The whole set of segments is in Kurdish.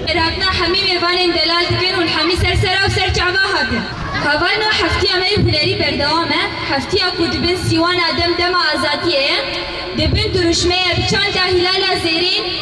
Îrakna hemî mêvanên delal dikin û li hemî ser sera û ser çava hatin. Havayna heftiya me yê hunerî berdewam e. Heftiya ku di bin sîwana dem dema azadiyê ye, di bin dirûşmeyê bi çanda hîlala zêrîn,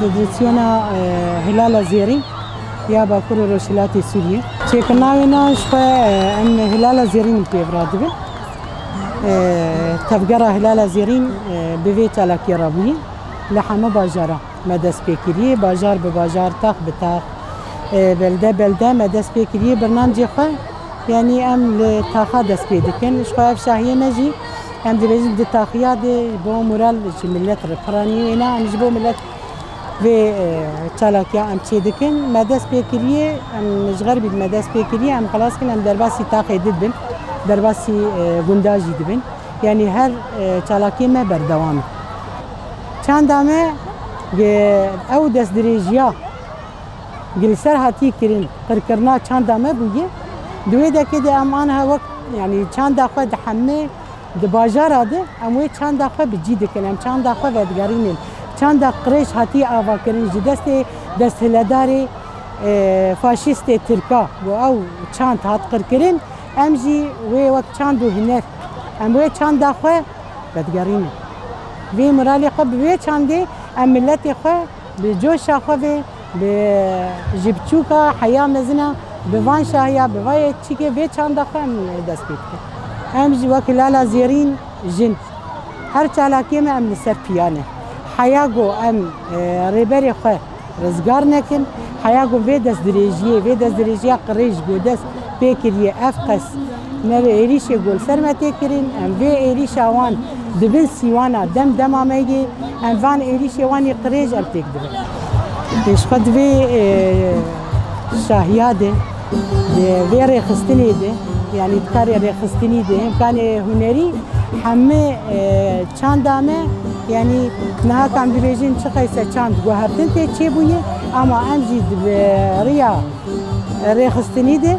Federasyona Hilala Zêrîn ya Bakur û Rojhilatê Sûriyê çêkirina wê na ji xwe em Hilala Zêrîn pê vira dibin. Tevgera Hilala Zêrîn bi vê çalakiyê re bûye li hemû bajaran me dest pê kiriye. Bajar bi bajar, tax bi tax, belde belde me dest pê kiriye bernamcê xwe. Yanî em li taxa dest pê dikin. Ji xwe ev şahiyê me jî Em dibêjin di taxiya de ji bo moral ji milet re piranî wêne an ji bo milet vê çalakiya em çê dikin me dest pê kiriye em ji xer bî me dest pê kiriye em xilas kin em derbasî taxê di dibin derbasî gunda jî dibin yanî her çalakiyê me berdewam e. Çanda me ew destdirêjiya Gi li ser hatiye kirin pirkirina çanda me bûye. Di wê dekê de em aniha wek yanî çanda xwe dihemê di bajara de em wê çanda xwe bi cî dikin, em çanda xwe vedigerînin. Çanda qirêj hatiye avakirin ji destê desthiledarê faşîstê tirka ku ew çand hat qirkirin, em jî wê wek çand û huner em wê çanda xwe vedigerînin. Vê miralê xwe bi wê çandê em miletê xwe Bi coşa xwe ve, bi ji biçûka heya mezin e, bi van şahiya, bi va yekçîkê vê çanda xwe em dest pê dikin. Em jî wek lala zêrîn jin her çalakiyê me em li ser piya ne. Heya ku em Rêberê xwe rizgar nekin, heya ku vê destdirêjiyê, vê destdirêjiya qirêj ji bo dest pê kiriye ev qas, Me bi êrîşê Golserme tê kirin, em vê êrîşa wan dibin sîwana dem dema me yê, em van êrîşê wan yê qirêj em têk dibin. Em ji xwe di vê şahiya de, di vê rêxistinê de, yanî di karê rêxistinî de, hêm karê hunerî hemû çanda me, yanî niha kam dibêjin çi qeyse çand guhertin tê çêbûyê, ema em jî di vê riya rêxistinî de,